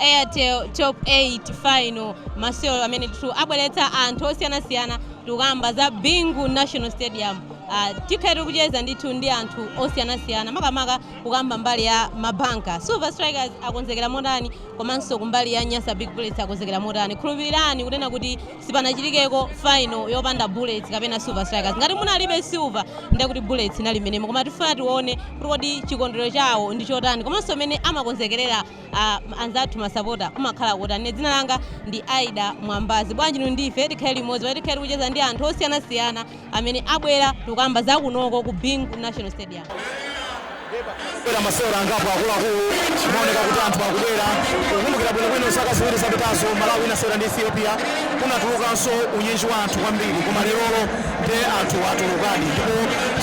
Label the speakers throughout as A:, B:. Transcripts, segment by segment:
A: Airtel Top 8 Final, masewero amene ndithu abweretsa anthu osiyanasiyana tikukamba za Bingu National Stadium. Uh, tikhala tikucheza ndithu ndi anthu osiyanasiyana makamaka kukamba mbali ya mabanka Silver Strikers akonzekera motani komanso kumbali ya Nyasa Big Bullets akonzekera motani. Khulupirirani kunena kuti sipanachitikeko final yopanda Bullets kapena Silver Strikers. Ngati munalibe Silver ndiye kuti Bullets inali mmenemo, koma tifuna tione kuti kodi chikondwerero chawo ndi chotani komanso mmene amakonzekerera a anzathu masapota kumakhala kotani dzina langa ndi aida mwambazi bwanji inu ndi ife tikhale limodzi pamene tikhale tikucheza ndi anthu osiyanasiyana amene abwera tikukamba za kunoko ku bingu national stadium
B: era masewera angapo akuluakulu maoneka kuti anthu akubwera kukumbukira bwinobwino zaka ziwiri zapitazo malawi inasewera ndi ethiopia kunatulukanso unyinji wa anthu kwambiri koma lerolo nde anthu atulukadi ndipo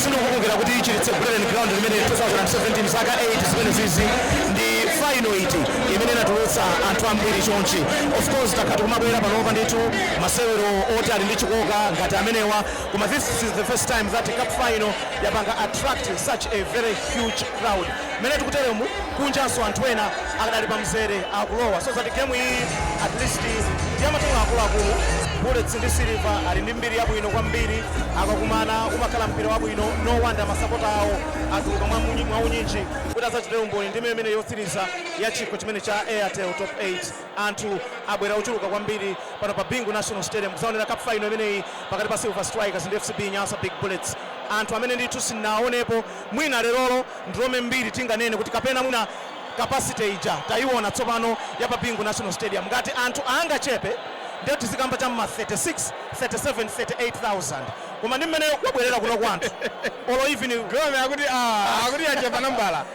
B: sindikukumbukira kuti chilitse buleren ground limene 2017 zaka 8 zimene zizi ndi final iti imene inatulutsa anthu ambiri chonchi? Of course takhala tikumabwera panopa ndithu masewero oti ali ndi chikoka ngati amenewa, koma this is the first time that cup final yapanga attract such a very huge crowd. Mmene tikuteremu, kunjanso anthu ena akadali pamzere akulowa, so that game iyi at least ndi ya matimu akuluakulu. Bullets ndi Silver ali ndi mbiri yabwino kwambiri, akakumana umakhala mpira wabwino, no wonder masapota awo atuluka mwaunyinji. kuti adzachitire umboni ndime imeneyi yotsiriza ya chikho chimenechi cha Airtel Top 8. Anthu abwera ochuluka kwambiri pano pa Bingu National Stadium kudzaonera cup final imeneyi pakati pa Silver Strikers ndi FCB Nyasa Big Bullets. Anthu amene ndithu sindinaonepo mwina lerolo ndilomwe mbiri tinganene kuti kapena mwina capacity ija tayiona tsopano ya pa Bingu National Stadium. Ngati anthu angachepe ndiye tizikamba cha m'ma 36, 37, 38,000. Koma ndi mmene kwabwelera kunoko anthu olo even. Gome akuti
C: aah akuti yachepa nambala.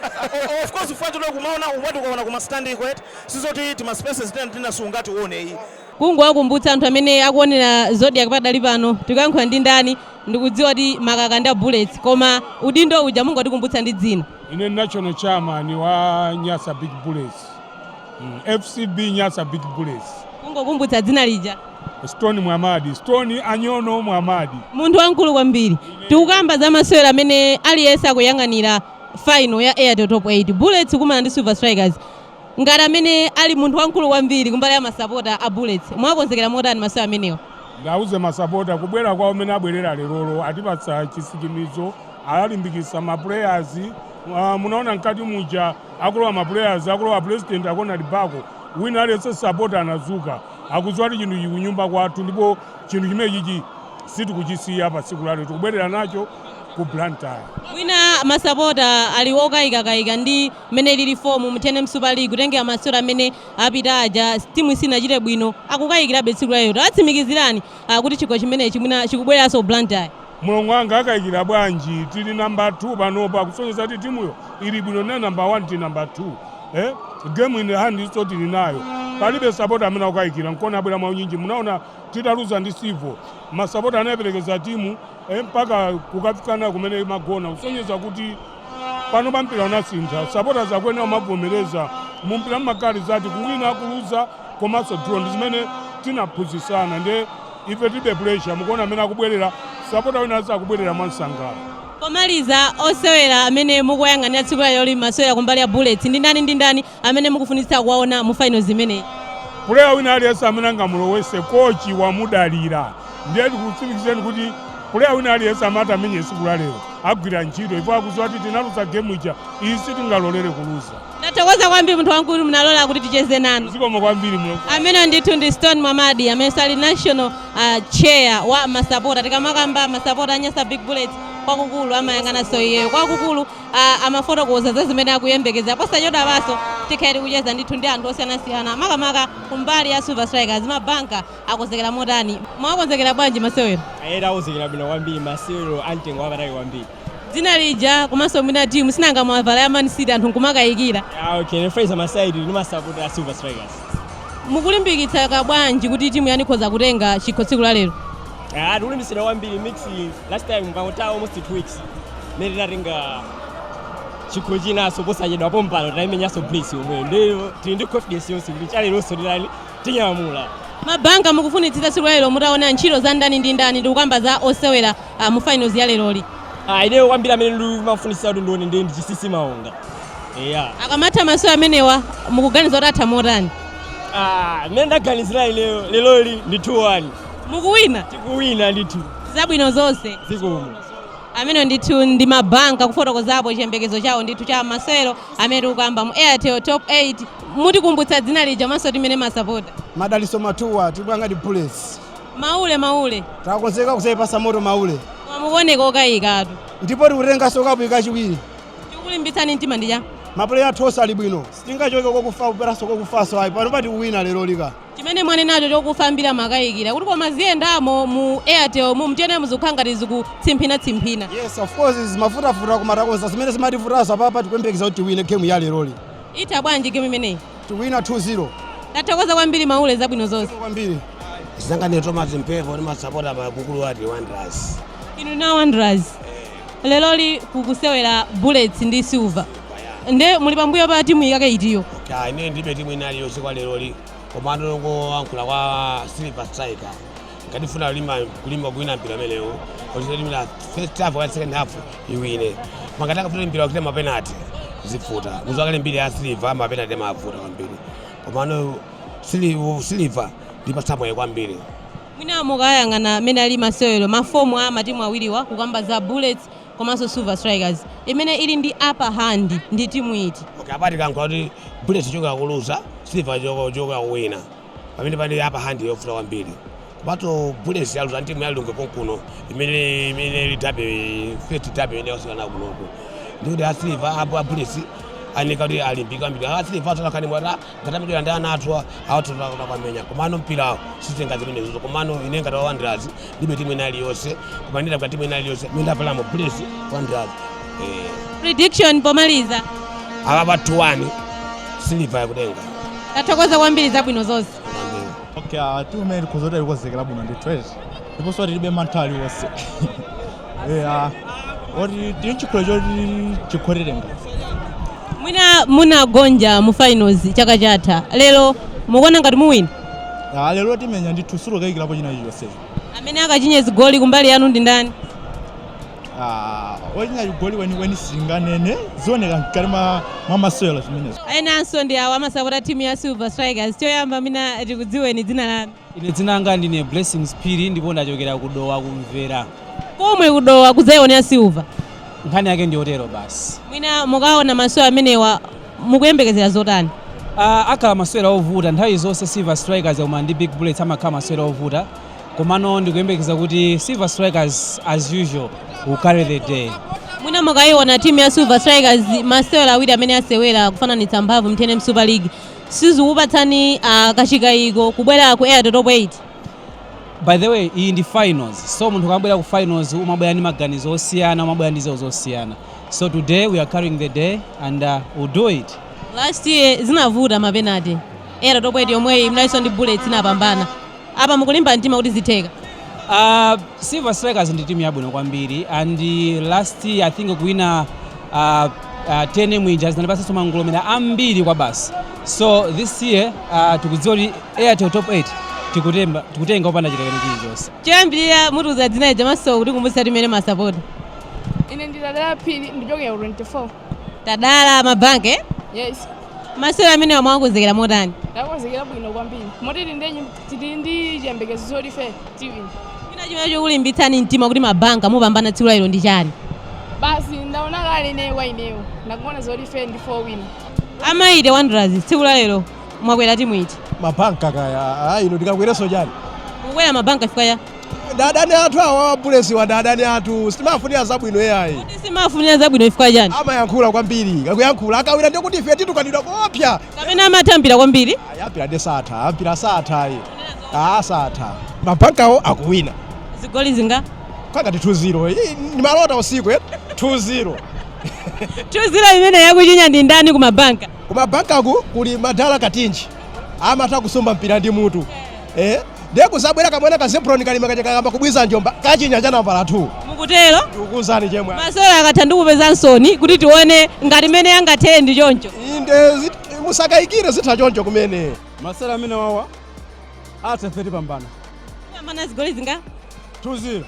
C: Of course chifukwa
B: choti kumaona umati ukaona kuma stand ko eti sizoti tima spaces tina ndi tina siungatione iyi. Kungowakumbutsa
A: anthu amene akuonera Zodiak padali pano tikuyankhula ndi ndani ndikudziwa kuti makaka ndi a Bullets koma udindo uja mungotikumbutsa ndi dzina. Ine ndine
C: national chairman wa Nyasa Big Bullets. FCB Nyasa Big Bullets. Kungokumbutsa
A: dzina lija. Stone
C: Mwamadi, Stone Anyono Mwamadi. Munthu wamkulu
A: kwambiri. Tikukamba za masewero amene aliyense akuyang'anira final ya Airtel Top 8. Bullets kumana ndi Silver Strikers. Ngati amene ali munthu wamkulu kwambiri kumbali ya masapota a Bullets, mwakonzekera motani masewero amenewa? Ndiwauze masapota
C: kubwera kwawo mmene abwerera lerolo atipatsa chisikimizo, alimbikitsa ma players Aaa munaona mkati muja akulowa ma players akulowa president akuona ndi bako wina aliyense sapota anadzuka akudziwa kuti chinthu ichi kunyumba kwathu ndipo chinthu chimenechichi sitikuchisiya pa tsiku lalero tikubwerera nacho ku Blantyre.
A: Mwina masapota ali okayikakayika ndi mmene ilili fomu mu tnm Super League kutengera masewero amene apita aja timu sinachite bwino akukayikirabe tsiku lalero tawatsimikizirani kuti chikho chimenechi mwina chikubwereranso ku Blantyre. Mulongo
C: wanga akaikira bwanji tili number 2 panopa kusonyeza kuti timuyo ili bwino ndi number 1 tili number 2 ee game in hand so tili nayo palibe sapota amene akukaikira nkona abwera mwaunyinji munaona titaluza ndi Civil masapota anayeperekeza timu ee mpaka kukafika nayo kumene imagona kusonyeza kuti pano pa mpira unasintha supporters akuyenera kumavomereza mu mpira mumakhala zitatu kuwina kuluza komanso draw ndi zimene tinaphunzitsana ndiye ife tilibe pressure mukuona amene akubwerera sapota wina aliyense akubwerera mwansangala pomaliza
A: osewera amene mukuwayang'anira tsiku la lero li masewera kumbali ya bullets ndi ndani ndi ndani amene mukufunitsitsa kuwaona mu finals imeneyi? Player
C: wina aliyense amene angamulowetse coach wamudalira ndiye tikutsimikizireni kuti player wina aliyense amene ati amenye tsiku la lero agwira ntchito ndipo akudziwa kuti tinaluza game ija iyi sitingalolere kuluza Ndathokoza
A: kwambiri munthu wamkulu munalola kuti ticheze nanu. zikomo kwambiri
C: mlongo amene ndithu ndi
A: Stone Mwamadi amene ali national uh, chair wa masapota tikamakamba masapota a Nyasa Big Bullets kwakukulu amayang'ananso iyeyo kwakukulu a amafotokoza za zimene akuyembekezera. Posachedwapanso tikhale tikucheza ndithu ndi anthu osiyanasiyana makamaka kumbali ya Silver Strikers. Mabanka akonzekera motani? Mwakonzekera bwanji masewero? Eya takonzekera bwino
D: kwambiri, masewero a mtengo wapatali kwambiri. Dzina
A: lija komanso mwina team sinanga mwavala ya Man City anthu nkumakayikira. Ah, okay, ndine
D: Fraser Masaidi ndimasapota Silver Strikers. Mukulimbikitsika
A: bwanji kuti timu yanu ikhoza kutenga chikho tsiku la lero? Ah,
D: tikulimbikitsidwa kwambiri because last time mukangotaya almost 2 weeks mmene tinatenga chikho chinanso posachedwa pompano tinaimenyanso Bullets yomweyo ndiye tili ndi confidence yonse kuti chaleronso ndilani tinyamula mabanka
A: mukufunitsitsa tsiku la lero mutaona ntchito za ndani ndi ndani ndikukamba za osewera ah, mu finals ya leroli Ah, ineyo
D: kwambiri amene ndimafunitsitsa kuti ndione ndi ndi Chinsinsi
A: Maonga eya akamatha
D: masewera
A: amenewa mukuganiza kuti atha
D: motani Ah, mmene ndaganizira ineyo leroli ndi 2-1
A: Mukuwina? Tikuwina
D: ndithu. Zabwino
A: zonse.
D: Zikomo. Amenewo
A: ndithu ndi mabanka kufotokozapo chiyembekezo chawo ndithu cha masewero amene tikukamba mu Airtel Top 8. Mutikumbutsa dzina lija komanso timu imene mumasapota? Madalitso Matuwa,
E: Big Bullets. Maule,
A: maule.
E: Takonzeka kudzaipatsa moto maule.
A: Mukuoneka okayikatu. Ndipo
E: tikutenganso kapuyi kachiwiri. Chikukulimbitsani
A: mtima ndi chani? Mapuleya athu onse ali
E: bwino. Sitingachoke kokufa kubweranso kokufanso ayi. Panopa tikuwina leroli ka. chimene
A: mwanenacho chokufa ambiri amakayikira kuti koma ziyendamo mu airtel mu timu yenu muzikhala ngati zikutsimphina tsimphina. Yes of course
E: zimavutavuta koma takonza zimene zimativutazo, apapa tikuyembekeza kuti tiwine game ya leroli. Itha bwanji
A: game imeneyi? Tiwina 2
E: 0. Tathokoza
A: kwambiri Maule zabwino zonse. Zikomo
E: kwambiri. Nzanga ndi
F: Thomas Mpepo ndi masapota akuluakulu a timu ya Wanderers. Inu na Wanderers.
A: Eh. Leroli kukusewera Bullets ndi Silver nde muli pambuyo pa timu yake itiyo? Ya, ine ndilibe
F: timu ina iliyonse kwa leroli koma ndongoyankhula kwa Silver Striker ngati ifuna kulimba kulimba kuwina mpira umenewu achite mu first half wa second half iwine koma ngati akafuna mpira upita mapenalty zivuta m'zakale mbiri ya Silver mapenalty amavuta kwambiri komano Silver ndiipatsa moyo kwambiri Mwina
A: mukayang'ana mmene alili masewero, ma form a matimu awiriwa kukamba za Bullets komanso Silver Strikers, imene ili ndi upper hand ndi timu iti? Okay, apa tikayankhula kuti
F: Bullets ichokera koluza, Silver ichokera kuwina. Pamenepa pali upper hand yovuta kwambiri. Komatu Bullets yaluza ndi timu ya Lilongwe konkuno imene imene ili derby, first derby imene yasewera nawo kunoku. Ndikuti a Silver apo a Bullets afunika kuti alimbike kwambiri. A Silver atakhala ndi mwayi ngati amati ndi ana athuwa awa titha kuwamenya komano mpirawo sutenga zimenezozo komano ine ngati wa Wanderers ndilibe timu ina iliyonse koma ndinda kwa timu ina iliyonse imene ndapalamo Bullets Wanderers eh
A: Prediction pomaliza. apa
F: 2 1 Silver yakutenga Tathokoza
A: kwambiri zabwino zonse. Okay,
G: uh, timu imene tikhoza kuti alikozekera bwino ndi trash ndiponso tilibe mantha aliwonse Yeah. Poti ndi chikho choti tikhoza kutenga.
A: mwina munagonja mu finals chaka chatha lero mukuona ngati muwina Ah, lero
G: timenya ndithu sitikukayikirapo china chilichonse. amene
A: akachinye zigoli kumbali yanu ndi ndani
G: Ah, ochinya chigoli weniweni singanene zioneka mkati mwa mwa masewero zimenezo. enanso ndi awo
A: masapota a timu ya silver strikers choyamba mwina tikudziweni dzina lanu Ine dzina langa
H: ndine Blessings Phiri ndipo ndachokera ku Dowa ku Mvera. Komwe ku
A: Dowa kudzayionera Silver. Nkhani yake ndi
H: yotero basi. Mwina mukaona
A: masewero amenewa mukuyembekezera zotani? Uh, akhala
H: masewero ovuta nthawi zonse Silver Strikers ikakumana ndi Big Bullets amakhala masewero ovuta komano ndikuyembekeza kuti Silver Strikers as usual will carry the day. Mwina mukayiona
A: timu ya Silver Strikers masewero awiri amene asewera kufananitsa mphamvu mu tnm Super League sizikupatsani kachikaiko kubwera ku airtel top 8 by the
H: way iyi ndi finals so munthu ukamabwera ku finals umabwera ndi maganizo osiyana umabwera ndi zinthu zosiyana so today we are carrying the day and uh, we'll do it last year
A: zinavuta mapenalty airtel top 8 yomweyi munalinso ndi bullets inapambana Apa mukulimba mtima kuti zitheka?
H: Uh, Silver Strikers ndi timu yabwino kwambiri and last year I think kuwina uh, uh, TNM ija zinatipatsanso mangolomera ambiri kwabasi so this year uh, tikudziwa kuti Airtel top 8 tikutemba tikutenga opanda chilekano chilichonse Choyambirira mutiuza
A: dzina lija komanso kutikumbutsa timu imene mumasapota. Ine
I: ndi Tadala Phiri ndichokera ku 24.
A: tadala mabanka eh?
I: yes masewero
A: amenewa mwakonzekera motani takonzekera
I: bwino kwambiri moti tili ndi- tili ndi chiyembekezo choti ife tiwina china chimene
A: chikulimbitsani mtima kuti mabanka mupambana tsiku lalero ndi chani
I: basi ndaona kale ineyo kwa ineyo ndakuona zoti ife ndife owina a mighty wanderers
A: tsiku lalero mwakwera timu iti mabanka kaya
E: ayi ino tikakwereso chani mukwera mabanka
A: chifukwa cha ndi adani
E: athu awa a bulletswa ndi adani athu sitimafunira zabwino yayi Kodi simafunira
A: zabwino chifukwa chani amayankhula kwambiri
E: akuyankhula akawina ndiye kuti ife titukanidwa koopsa kapena amatha
A: mpira kwambiri ayi mpira ndiye satha
E: mpira satha ayi aa satha mabankawo akuwina zigoli
A: zinga kwangati
E: 2-0 ndimalota usiku eh? 2-0
A: 2-0 amene akuchinya ndi ndani ku mabanka kumabankaku
E: kuli madala katinji amatha kusumba mpira ndi mutu eh ndiye kuzabwera kamwana ka zebron kalima kaja kakayamba kubwiza njomba kachinya cha nambala 2 mukutero ndikukuuzani
A: chemwe
E: masewero akatha
A: ndikupezansoni kuti tione ngati mmene angathere ndi choncho inde zit-
E: musakayikire zitha choncho kumene masewero amenewa
G: atha ife tipambana mupambana
A: zigoli zinga
G: 2-0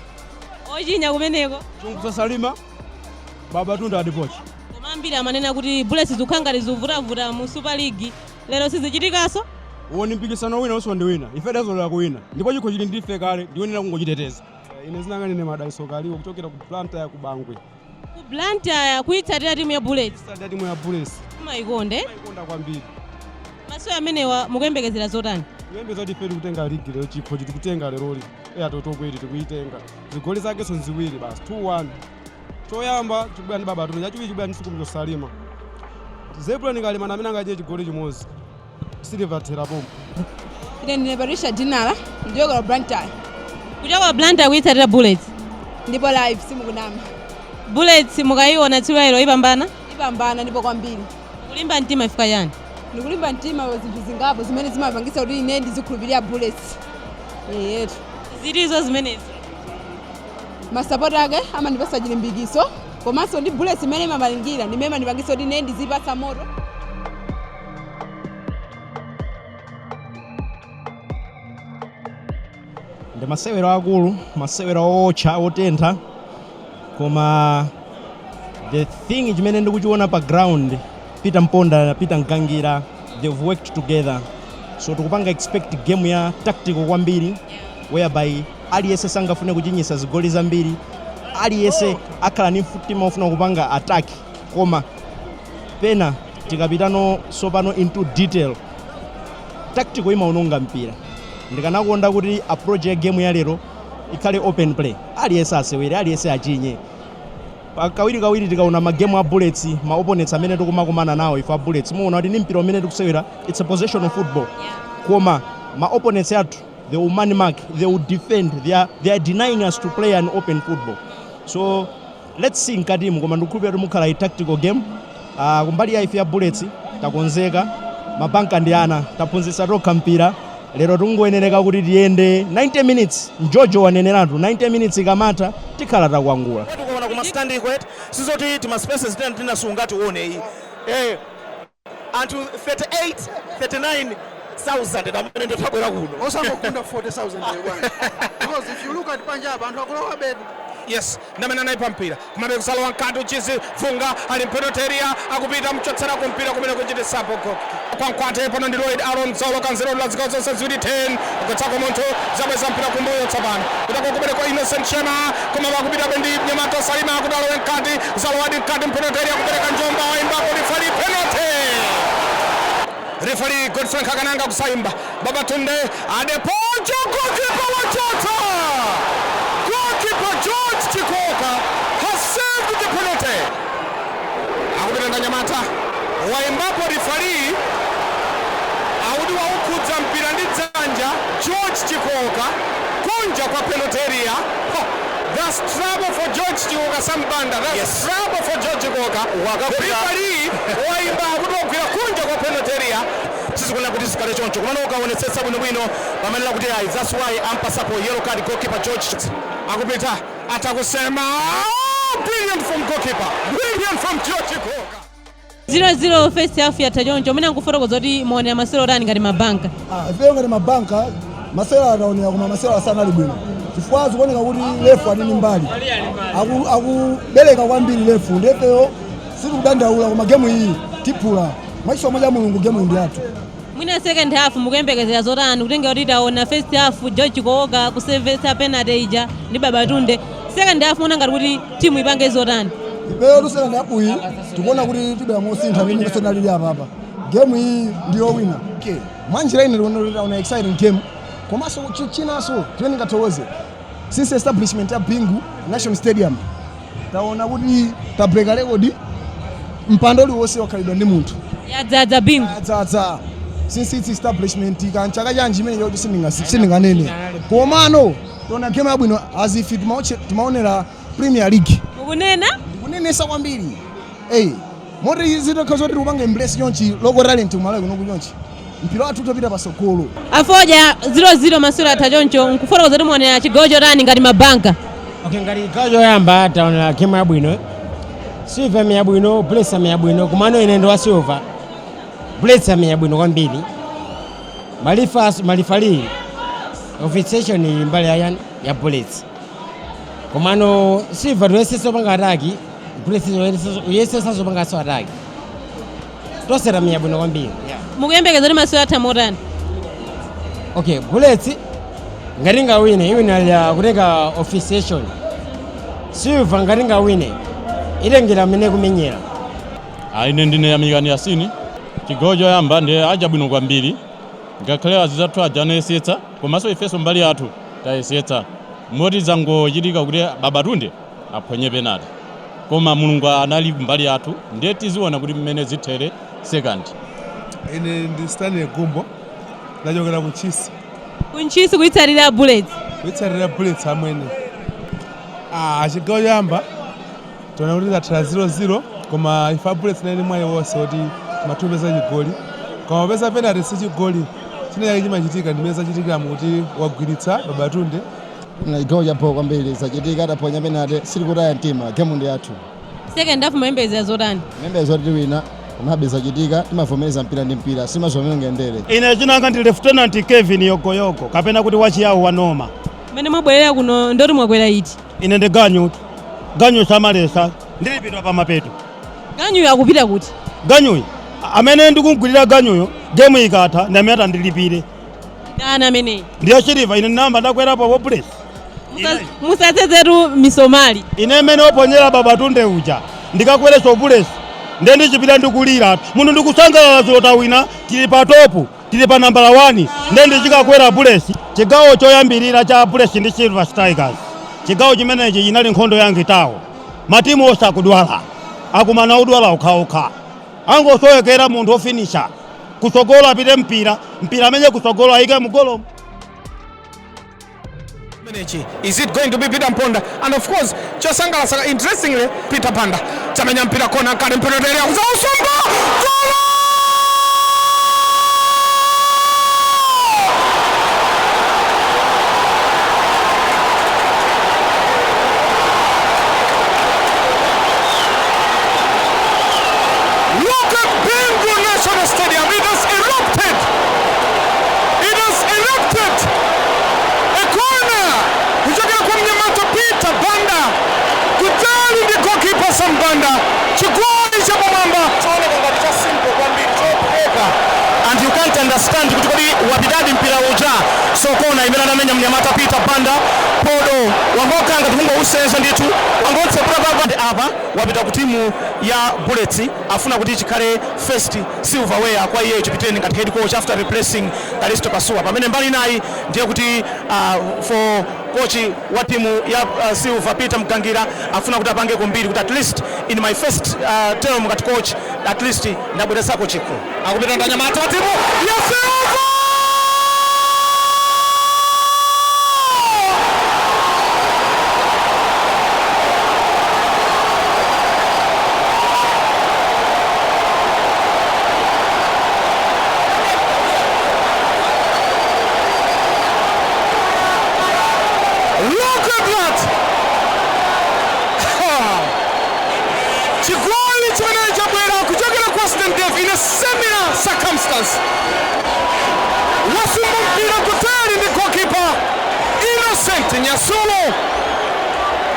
G: ochinya
A: kumeneko chikumbutso salima
G: babatunde adepoju koma ambiri amanena
A: kuti bullets zikukhala ngati zikuvutavuta mu super league Lero sizichitikanso.
E: Uwo ndi mpikisano wina uwunso ndi wina. Ife tidazolowera kuwina ndipo chikho chili ndi ife kale ndiyoyenera kungochiteteza. Ine zina langa ndine Madalitso Kaliwo kuchokera ku Blantyre ku Bangwe. Ku Blantyre
A: kuitsatira timu ya Bullets? Kuitsatira timu ya
E: Bullets. Mumaikonda eti?
A: Timaikonda
E: kwambiri.
A: Masewero amenewa mukuyembekezera zotani? Tikuyembekeza kuti ife tikutenga
E: ligi lero chikhochi tikutenga leroli. Airtel Top 8 tikuitenga. Zigoli zakenso nziwiri basi 2 1. choyamba chikubwera ndi babatunde chachiwiri chikubwera ndi chikumbutso salima zebron kalima ndi amene angachinye chigoli chimodzi silver thera pompo ine ndine
I: patricia dinala ndichokera blantyre kuchoka
A: blantyre kuyitsatira bullets ndipo live
I: simukunama
A: bullets mukayiona tsiku lero ipambana ipambana
I: ndipo kwambiri kulimba mtima chifukwa
A: chani ndikulimba
I: mtima zinthu zingapo zimene zimapangisa kuti ine ndizikhulupirira bullets eyetu zitizo
A: zimenezi
I: masapota ake amandipasa chilimbikiso komanso ndi bullets imene imalingira ndimene imandipangisa kuti ine ndizipatsa
E: moto ndi masewero akulu masewero owotcha otentha koma the thing chimene ndikuchiona pa ground peter mponda peter mgangira they've worked together so tikupanga expect game ya tactical kwambiri whereby Aliyense sangafune kuchinyitsa zigoli zambiri, aliyense akhala ndi mtima wofuna kupanga attack koma pena tikapita sopano into detail tactical imaononga mpira. Ndikanakonda kuti approach ya game ya lero ikhale open play, aliyense asewere, aliyense achinye. Pa- Kawirikawiri tikaona magemu a Bullets, ma opponents amene tikumakumana nawo ife a Bullets, muwona kuti ndi mpira umene tikusewera, it's a possession of football, koma ma opponents athu they will man mark, they will defend. they are denying us to play an open football. So let's see mkatimu koma ndikukhulupirira kuti mukhala a tactical game uh, kumbali ya ife ya bullets takonzeka mabanka ndi ana taphunzitsa tokha mpira lero tingoyenereka kuti tiyende 90 minutes mjojo waneneratu 90 minutes ikamatha tikhala takwangula tikuona kuma standing
B: kuti sizoti tima spaces tena tinasunga tione iyi eh anthu 38 39 thousand amene ndithu abwera kuno osangogunda 40000 ndiye
J: bwana because if you look at panja apa anthu akulowabe yes ndamene
B: anayi pampira komabe kusalowa mkati Uchizi Vunga ali mpenalty area akupita mchotsera kumpira kumene kuchitisapo goki kwa mkwate pano ndi lloyd aron zolo kanzero la zikao zonse ziwiri 10 kutsako munthu zabweza mpira kumbuyo tsopano kutako kumene kwa innocent nyasulu koma akupitabe ndi mnyamata Salima akuti alowa mkati walowadi mkati mpenalty area kupereka njomba waimbapo rifali penalty rifali Godfrey Nkhakananga kusaimba Babatunde Adepoju goalkeeper wachotsa goalkeeper George Chikooka has saved the penalty akupita ndi anyamata waimbapo rifali akuti waukhudza mpira ndi dzanja George Chikooka kunja kwa penalty area That's trouble for George Chikooka Sam Banda that's yes. trouble for George Chikooka referee waimba akuti wagwira kunja kwa penalty area sizikufuna kuti zikale choncho komano ukaonetsetsa bwino bwino pomanena kuti ayi that's why ampasapo yellow card goalkeeper George akupita atakusema brilliant from goalkeeper brilliant from George Chikooka
A: 0-0 first half yatha choncho mwina nkufotokoza kuti mwaonera masewero otani ngati mabanka Ah, ifeyo ngati mabanka
J: masewero ataonera koma masewero sanali bwino chifukwa zikuoneka kuti lefu ali ndi mbali Aku- akubereka kwambiri lefu nde ifeyo sitikudandaula koma gemu iyi tiphula mwachisomo cha mulungu gemu iyi ndi yathu Mwina
A: second half mukuyembekezera zotani kutengera kuti taona first half George Chikooka kusevesa penalty ija ndi Babatunde. Second half muona ngati kuti timu ipange zotani? Ifeyo second
J: half iyi tikuona kuti tibwera mosintha ndi mmene tinalili apapa. Game iyi ndi yowina. Okay. Mwanjira ine tikuona kuti taona exciting game. Komanso chinanso chimene ndingathokoze Since establishment ya Bingu National Stadium taona kuti tabreaka record mpando uliwonse wakhalidwa ndi munthu yadzadza Bingu
A: yadzadza
J: since its establishment kaya nchaka chanji imene choti sindinga- sindinganene komano taona game yabwino as if timaoche- timaonera premier league mukunena
A: kunenetsa kwambiri
J: eyi Moti zitakhala zoti tikupanga embrace chonchi local talent ku Malawi kunoku chonchi, mpira wathu utapita patsogolo. A
A: Fodya, 0, 0 masewero atha choncho mukufotokoza kuti mwaonera chigawo chotani ngati ma Bankers? Okay, ngati chigawo
D: choyamba taonera game yabwino. Silver yamenya bwino, Bullets yamenya bwino, komano ine ndi wa Silver. Bullets yamenya bwino kwambiri. Malifa malifali officiation ili mbali ya chani ya Bullets. komano silva tayesesa kupanga ataki tayesesanso kupanganso
A: ataki tonse tamenya
D: bwino kwambiri mukuyembekeza
A: kuti masewero atha
D: motani okay bullets ngati ingawine iwina kutengera officiation silva ngati ingawine itengera mmene ikumenyera Ah, ine
K: ndine yamikani yasini chigawo choyamba ndiye chatha bwino kwambiri ngakhale anzathu aja anayesetsa Komanso ifenso mbali yathu tayesetsa moti zangochitika kuti Babatunde aphonye penalty koma Mulungu anali mbali yathu ndiye tiziona kuti mmene zithere 2nd.
L: Ine ndi Stanley Gumbo ndachokera ku Ntchisi. Ku
A: Ntchisi kuitsatira Bullets? Kuitsatira Bullets
L: amwene. Ah, chigawo choyamba Taona kuti zathera 0-0 koma ife abullets tinali mwayi wonse woti tikadapeza chigoli koma poti penalty si chigoli chinachake chimachitika ndimene zachitikiramu kuti wagwiritsa babatunde chigawo
J: chabho kwambiri zachitika ataphonya penalty sitikutaya mtima game ndi yathu second
A: half mumayembekezera zotani timayembekezera zoti
J: tiwina komabe zachitika timavomereza mpira ndi mpira simazomera ngendere ine dzina langa ndi
B: lieutenant kevin yogoyogo kapena kuti wachiyawo wa noma mmene mwabwerera
A: kuno ndoti mwakwera iti Ine ndi
B: ganyu, ganyu samaletsa, ndilipidwa pa mapeto. Ganyuyo
A: akupita kuti? Ganyuyo
B: amene ndikumgwirira ganyuyo gemu ikatha ndi amene atandilipire. Ndani
A: ameneyi? Ndiye Silver, ine
B: ndinayamba ndakwerapo pa Bullets.
A: Musadzezetu misomali. Ine mmene
B: waphonyera babatunde uja ndikakwerenso Bullets ndiye ndichipita ndikulira munthu ndikusangalala zoti tawina tili patopu. Tili pa nambala wani nde ndi chikakwera bullets chigawo choyambirira cha bullets ndi silver strikers chigawo chimenechi inali nkhondo ya ngitawo matimu onse akudwala akumana odwala okhaokha angosowekera munthu ofinisha kutsogolo apite mpira mpira amenye kutsogolo ayike mu golomo
M: Menechi. Is it going to be Peter Mponda? And of course, chosangalatsa interestingly Peter Panda chamenya mpira kona kale mpira tele akuza usomba. Golo! Look at Bingu National Stadium. It has erupted. It has erupted. Kona kuchokera kwa mnyamata Peter Banda kutali ndi goalkeeper Sam Banda, chigoli cha pamwamba chooneka ngati cha simple kwambiri chophweka and you can't understand kuti kodi wapitadi mpira uja. So kona imene anamenya mnyamata Peter Banda podo wangokhala ngati kungousenza ndithu wangotsebereza apa wapita ku timu ya Bullets afuna kuti chikhale first Silverware kwa iyeyo Chipiteni ngati head coach after replacing Kalisto Pasuwa pamene mbali inayi ndiye kuti uh, for coach wa timu ya uh, Silver Peter Mgangira afuna kuti apangeko mbiri kuti at least in my first uh, term ngati coach at least ndabweretsako chikho akupita ndanyamata wa timu ya Silver Look at that! Ha! Chigoli chimene chabwera kuchokera kwa Stain Dave in a similar circumstance. Wasumba mpira kutali ndi goalkeeper Innocent Nyasulu.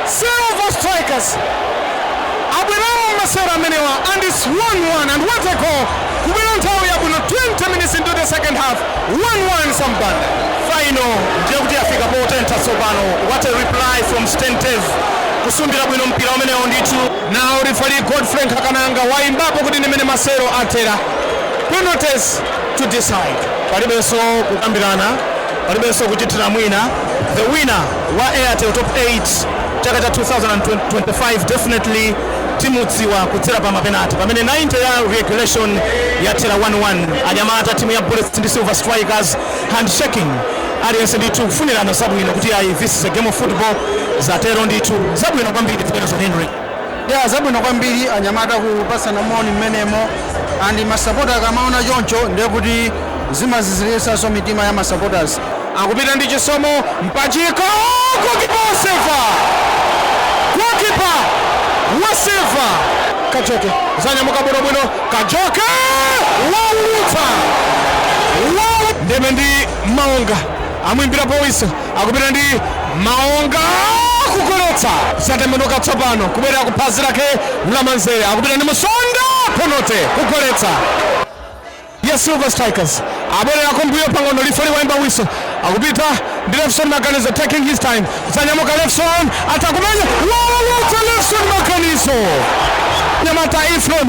M: Silver Strikers Abwerawa mumasewero amenewa and its 1 1 and what a goal kubwera nthawi yabwino 20 minutes into the second half 1 1 Sam Banda. Final ndiye kuti yafika potentha tsopano what a reply from Stain Dave kusumbira bwino mpira umenewo ndithu. Now referee Godfrey Nkhakananga waimbapo kuti ndi mmene masewero athera penalties to decide. Palibenso kukambirana, palibenso kuchitira mwina the winner. wa Airtel Top 8 chaka cha 2025 definitely timudziwa kudzera pa mapenati pamene 90 ya regulation yathera 1-1 anyamata timu ya bullets ndi silver strikers handshaking aliyense ndithu kufunirana zabwino kuti ayi this is a game of football zatero ndithu zabwino kwambiri zimenezo henry Yeah,
N: zabwino kwambiri anyamata kupatsana moni mmenemo and masapota akamaona choncho ndiye kuti zimaziziritsanso mitima ya masupporters. Akupita ndi Chisomo
M: Mpachika goalkeeper wa Silver. Goalkeeper wa Silver. Kajoke zanyamuka bwino bwino Kajoke waulutsa. Wow. Ndeme ndi Malonga amwimbira powisa akupita ndi maonga kugoletsa zatembenuka tsopano kubwerera ku phazi lake Mlamanzere akupita ndi musonda penate kugoletsa ya
B: silver strikers abwerera kumbuyo pang'ono lifali waimba wiso akupita ndi lefson maganizo taking his time zanyamuka lefson atakumenya wawawatsa lefson maganizo nyamata Ephraim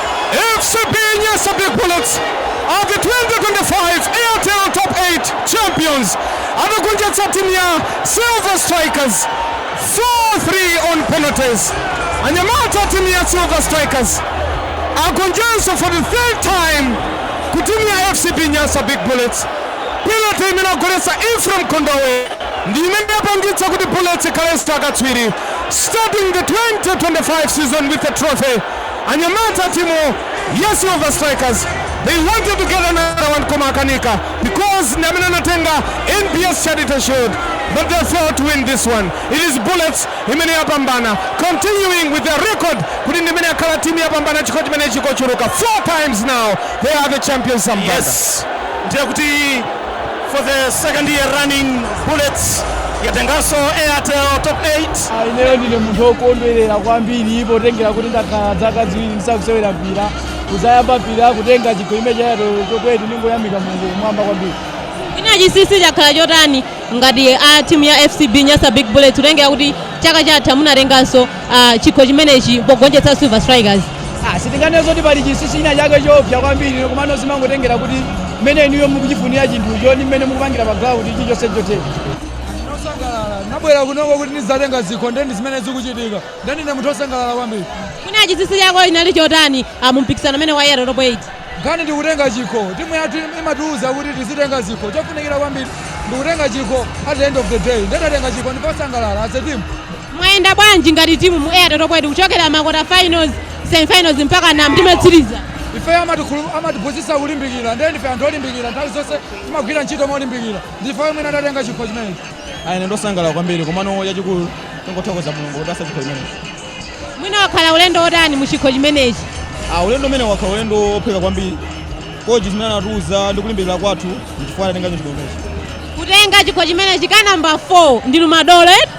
B: FCB Nyasa Big Bullets are the 2025 Airtel Top 8 champions atagonjetsa timu ya Silver Strikers 4-3 on penalties. Anyamata a timu ya Silver Strikers agonjanso for the third time ku timu ya FCB Nyasa Big Bullets. Penalty imene agoletsa Ephraim Kondowe ndi imene yapangitsa kuti Bullets ikhalenso akatswiri starting the 2025 season with a trophy Anyamata a timu ya Silver Strikers they wanted to get another one koma akanika because ndi amene anatenga NBS Charity Shield but they failed to win this one. It is Bullets imene yapambana continuing with their record kuti ndi imene yakhala timu yopambana chikho chimenechi kochuluka four times now they are the champions Zamzanga. Yes,
O: ndiye kuti For the second year running, Bullets yatenganso Airtel Top 8. Ah, ineyo ndine munthu
P: wokondwerera kwambiri potengera kuti ndakhala dzaka ziwiri ndisakusewera mpira kuzayamba mpira kutenga chikho cha Airtel Top 8 ndingoyamika mulungu kumwamba kwambiri mwina
A: chinsinsi chakhala chotani ngati a timu ya fcb nyasa big bullets kutengera kuti chaka chatha munatenganso uh, chikho chimenechi pogonjetsa silver strikers Ah, sitinganene
P: zoti pali chinsinsi china chake choopsa kwambiri komano zimangotengera kuti mmene inuyo mukuchifunira chinthucho ndi mmene mukupangira pa ground chilichonse chotheka osangalala nabwera
Q: kunoko kuti ndizatenge zikho ndeni zimene zikuchitika ndeni ne munthu osangalala kwambiri mwina chinsinsi
A: chako inali chotani ah, mu mpikisano umenewu wa Airtel top 8 nkhani
Q: ndikutenga chikho timu yathu imatiuza kuti tizitenga zikho chofunikira kwambiri ndikutenga chikho at the end of the day nde tatenga chikho ndife osangalala as a team Mwayenda
A: bwanji ngati timu mu Airtel Top 8 kuchokera ma quarter finals, semi finals mpakana ndime yotsiriza? Ife
Q: amatiphunzitsa kulimbikira ndiye ndife anthu olimbikira nthawi zonse timagwira ntchito molimbikira ndife omwe tatenga chikho chimenechi. Ayi ine ndosangalala
E: kwambiri komano chachikulu tingothokoza Mulungu kutipatsa chikho chimenechi.
A: Mwina wakhala ulendo wotani mu chikho chimenechi? Ah, ulendo
E: umenewu wakhala ulendo wophweka kwambiri kochi zimene anatiuza ndi kulimbikira kwathu n'chifukwa tatenga chikho chimenechi. Kutenga chikho
A: chimenechi ka number 4 ndinu madolo eti?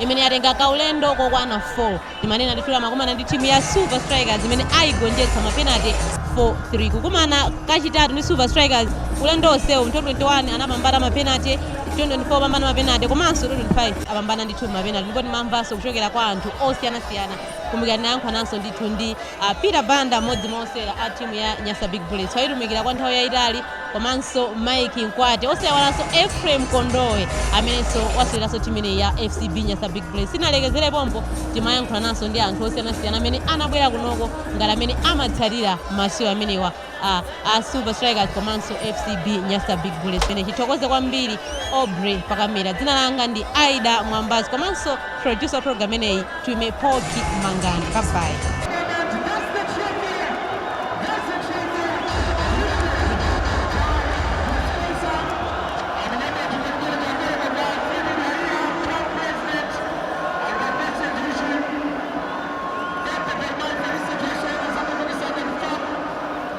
A: imene yatenga kaulendo kokwana 4 timanena ndithu imakumana ndi timu ya silver strikers imene ayigonjetsa mapenate 4-3 kukumana kachitatu ndi silver strikers ulendo onsewu mu 2021 anapambana mapenate 2024 apambana mapenate komanso 2025 apambana ndithu mapenate ndipo timamvanso kuchokera kwa anthu osiyanasiyana kumbukira tinayankhulananso ndithu ndi ah, peter banda mmodzi mwa osewera a timu ya nyasa big bullets wayitumikira kwa nthawi yayitali komanso Mike Mkwate osayiwalanso Ephraim Kondowe amenenso waseweranso timu imeneyi ya FCB Nyasa Big Bullets. Sitinalekezere pompo timayankhulananso ndi anthu osiyanasiyana amene anabwera kunoko ngati amene amatsatira masewero amenewa a, a Silver Strikers komanso FCB Nyasa Big Bullets. Pamene tithokoze kwambiri Aubrey pa kamera. Dzina langa ndi Aida Mwambazi komanso Producer wa program imeneyi Twime Poki Mangani. Bye bye.